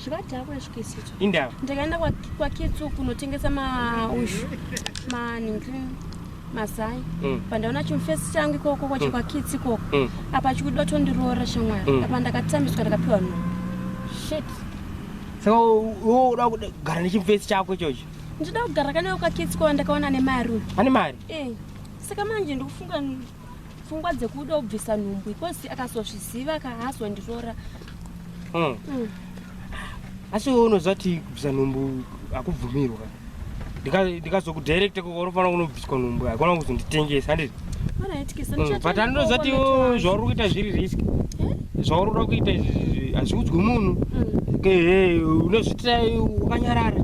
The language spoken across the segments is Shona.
zvivati hako yasvukisicho indawa ndakaenda kwakitsu kunotengesa maushu maningi mazai mm. pandaona chimufesi changu ikoko kwacho mm. kwakitsi ikoko mm. apa chikuda tondiroora shamwari apa ndakatambiswa ndakapiwa no shit saka wo uda kugara nechimufesi chako ichocho ndida kugara kanewo kwakitsi kwava ndakaona ane mari ane mari eh, saka manje ndikufunga pfungwa dzekuda kubvisa nhumbu ikosi akazozviziva ka haazondirora hmm. hmm. asi iwe unoziva ti kubvisa nhumbu hakubvumirwa ndikazokudirecta kunofanira kunobviswa nhumbu haikona kuzonditengesa handiti hmm, but andoziva ti zvauri kuita zviri risk eh? zvauri kuda kuita izvi hazviudzwi munhu hmm. unozviitira wakanyarara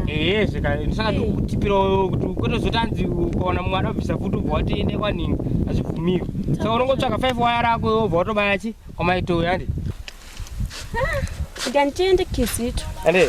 ehe zveka ndisaka ndikutipirawo kuti kwete zoti anzi ukaona mumwe anobvisa futi ubva wati ende kwaningi hazvibvumirwi saka unongotsvaka five waya rako iwe ubva watobaya chi kwamaitoo yandi ah, ndanditende kizito ande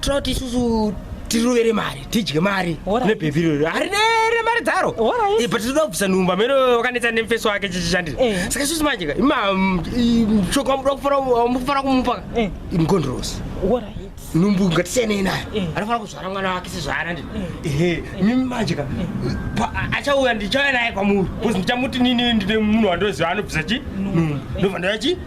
tinoda kuti isusu tirovere mari tidye mari kune bhebhi iroro harinere mari dzaro eh, but tinoda kubvisa nhumba mene wakanetsa nemufesi wake chichishandira eh. saka isusu manje ka mshoko mm, wamufanira kumupa eh. imkondorosi nhumbu ngatisiyanei nayo anofanira kuzvara mwana wake sezvaana ndi ehe mimi manje ka achauya ndichauya naye kwamuri bcause ndichamuti nini ndine munhu wandoziva anobvisa chi nhumbu ndobva ndoya chi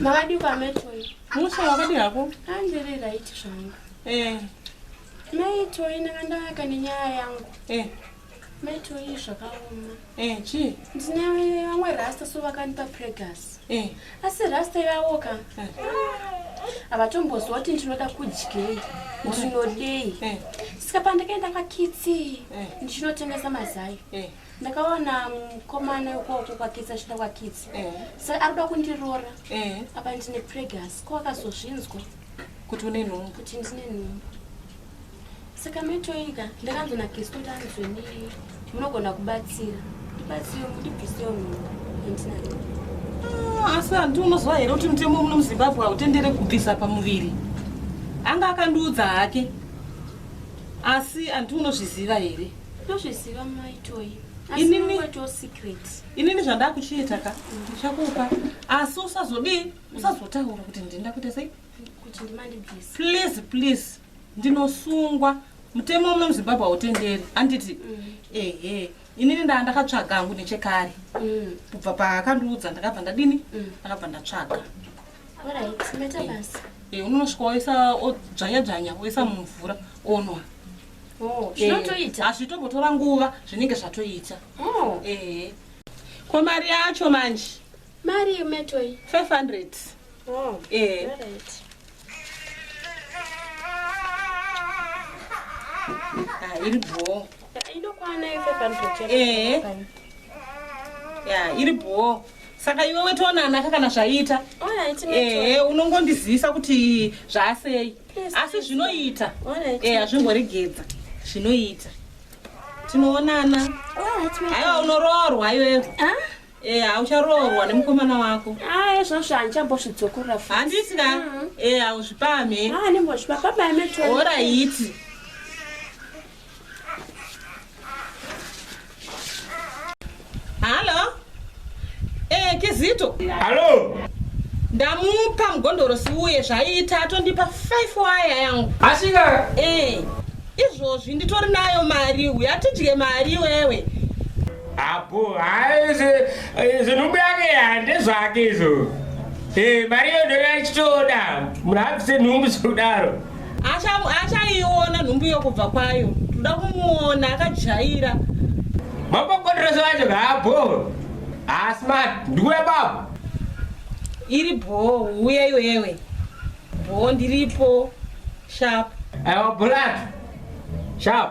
Mavadi kwa metoi. Musha wakadi hako? Andiri right zvangu. Eh. Metoi nakandaka nenyaya yangu. Eh. Metoi zvakaoma. Eh, chi? Ndine vamwe rasta so vakandipa pregas. Eh. Asi rasta yavo ka. Eh. Avatombozwa kuti ndinoda kudyei. Ndinodei. Eh. Sika pandakaenda kwa kitsi. Eh. Ndinotengesa mazai. Eh. ndakaona mukomana wekoko kwakitsi achida kwakitsi eh. sa ari kuda kundirora eh. apa ndine pregas ko akazozvinzwa kuti une nhumbu kuti ndine nhumbu saka metoika ndakanzwa nakisto kuti anzwe ni munogona kubatsira ndibatsire mundibvisewo nhumbu andina ah, asi handi unoziva here kuti mutemo muno muzimbabwe hautendere kubvisa pamuviri anga akandiudza hake asi handi unozviziva here Ndozviziva mai Toyi. Inini to secret. Inini zvandakuchiita ka ndichakupa asi usazodii usazotaura kuti ndinda kuita sei? Kuti ndimandi please. Please please ndinosungwa mutemo uno muzimbabwe hautenderi handiti mm. ehe inini ndaa ndakatsvaga hangu nechekare mm. kubva paakandiudza ndakabva ndadini mm. ndakabva ndatsvaga Eh, unosvika woisa odzvanya dzvanya woisa mumvura onwa oh, eh, zvinotoita hazvitombotora nguva zvinenge zvatoita oh. eh. ko mari yacho manje mari yemetoi 500 ah, iri bhoo Inokwana ife panotochera. Eh. Ya, iri bho. Saka iwe wetoona anaka kana zvaita. Alright, eh, eh unongondizivisa kuti zvasei. Asi zvinoita. Alright. Eh, azvingoregedza. Zvinoita. Tinoonana. Alright. Hayo unoroorwa iwe. Ah? Eh, aucharoorwa nemukomana wako. Ah, ezvo zvanchamboshidzokorra futi. Handisi ka? Mm-hmm. Eh, auzvipame. Ah, nembozvipa baba meto. Alright. Halo. Eh, Kizito. Halo. Ndamupa mugondoro siuye zvaiita atondipa 5 waya yangu. Asika. Eh. Izvozvi nditori nayo mari uya tidye mari wewe. Apo, hayi zvinhu byange hande zvake izvo. Eh, mari yodoya chitoda. Munhu abvise nhumbu zvokudaro. achaiona nhumbu yokubva kwayo toda kumuona akajaira mapokotoreso vacho vaabhoo haasi mati ndikuve baba iri bhoo uye iwewe bhoo ndiripo shap aiwa bholato shap